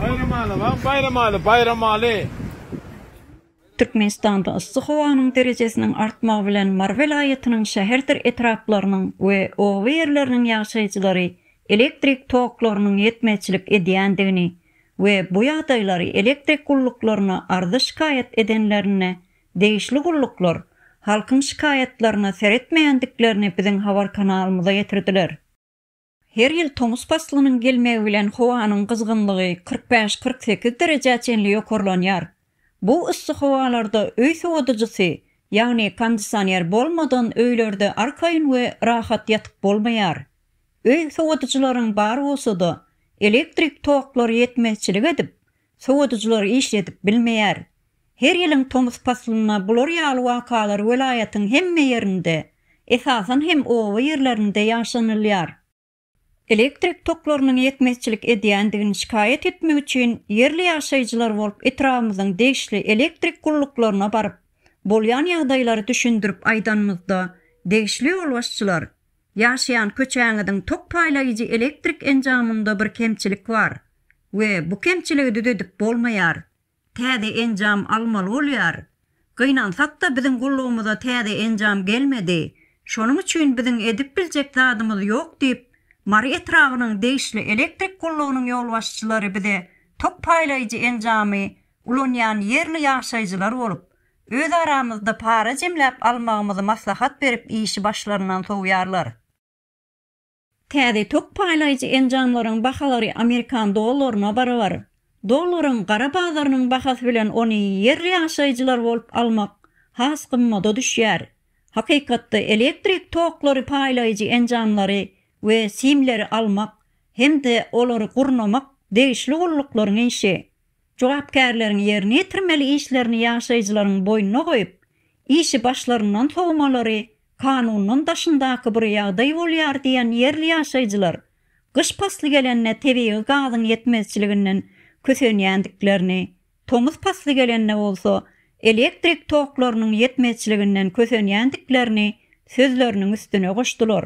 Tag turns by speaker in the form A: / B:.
A: Baýramaly, ha, Baýramaly, Baýramaly! Türkmenistanda
B: yssy howanyň derejesiniň artmagy bilen Mary welaýatynyň şäherdir etraplarynyň we oba ýerleriniň ýaşaýjylary elektrik toklarynyň ýetmezçilik edýändigini we bu ýagdaýlary elektrik gulluklaryna arza-şikaýat edenlerinde degişli gulluklar halkyň şikaýatlaryna seretmeýändiklerini biziň habar kanalymyza ýetirdiler. Her ýyl tomus paslynyň gelmegi bilen howanyň gyzgynlygy kyrk bäş-kyrk sekiz derejä çenli ýokarlanýar. Bu yssy howalarda öý sowadyjysy, ýagny kondisioner bolmadan öýlerde arkaýyn we rahat ýatyp bolmaýar. Öý sowadyjylaryň bar bolsa-da, elektrik toklary ýetmezçilik edip, sowadyjylar işledip bilmeýär. Her ýylyň tomus paslynda bular ýaly wakalar welaýatyň hemme ýerinde, esasan hem oba ýerlerinde ýaşanylýar. Elektrik toklarynyň ýetmezçilik edýändigini şikaýat etmek üçin ýerli ýaşaýjylar bolup etrabymyzyň degişli elektrik gulluklaryna baryp, bolýan ýagdaýlary düşündirip aýdanymyzda, degişli ýolbaşçylar, Ýaşaýan köçäňiziň tok paýlaýjy elektrik enjamynda bir kemçilik bar we bu kemçiligi düzedip bolmaýar. Täze enjam almaly bolýar. Gynansakda biziň gullugymyza täze enjam gelmedi. Şonuň üçin biziň edip biljek zadymyz ýok diýip, Mary etrabynyň degişli elektrik gullugynyň ýolbaşçylary bize tok paýlaýjy enjamy ulanýan ýerli ýaşaýjylar bolup, Öz aramyzda para jemläp almagymyzy maslahat berip işi başlaryndan sowýarlar. Täze tok paýlaýjy enjamlaryň bahalary amerikan dollaryna barabar. Dollaryň gara bazarynyň bahasy bilen ony ýerli ýaşaýjylar bolup almak has gymmada düşýär. Hakykatda elektrik toklary paýlaýjy enjamlary we simleri almak hem-de olary gurnamak degişli gulluklaryň işi. jogapkärleriň ýerine ýetirmeli işlerini ýaşaýjylaryň boýnuna goýup, işi başlaryndan sowmalary kanundan daşyndaky bir ýagdaý bolýar diýen ýerli ýaşaýjylar gyş pasly gelende tebigy gazyň ýetmezçiliginden kösenýändiklerini, tomus pasly gelende bolsa elektrik toklarynyň ýetmezçiliginden kösenýändiklerini sözleriniň üstüne goşdular.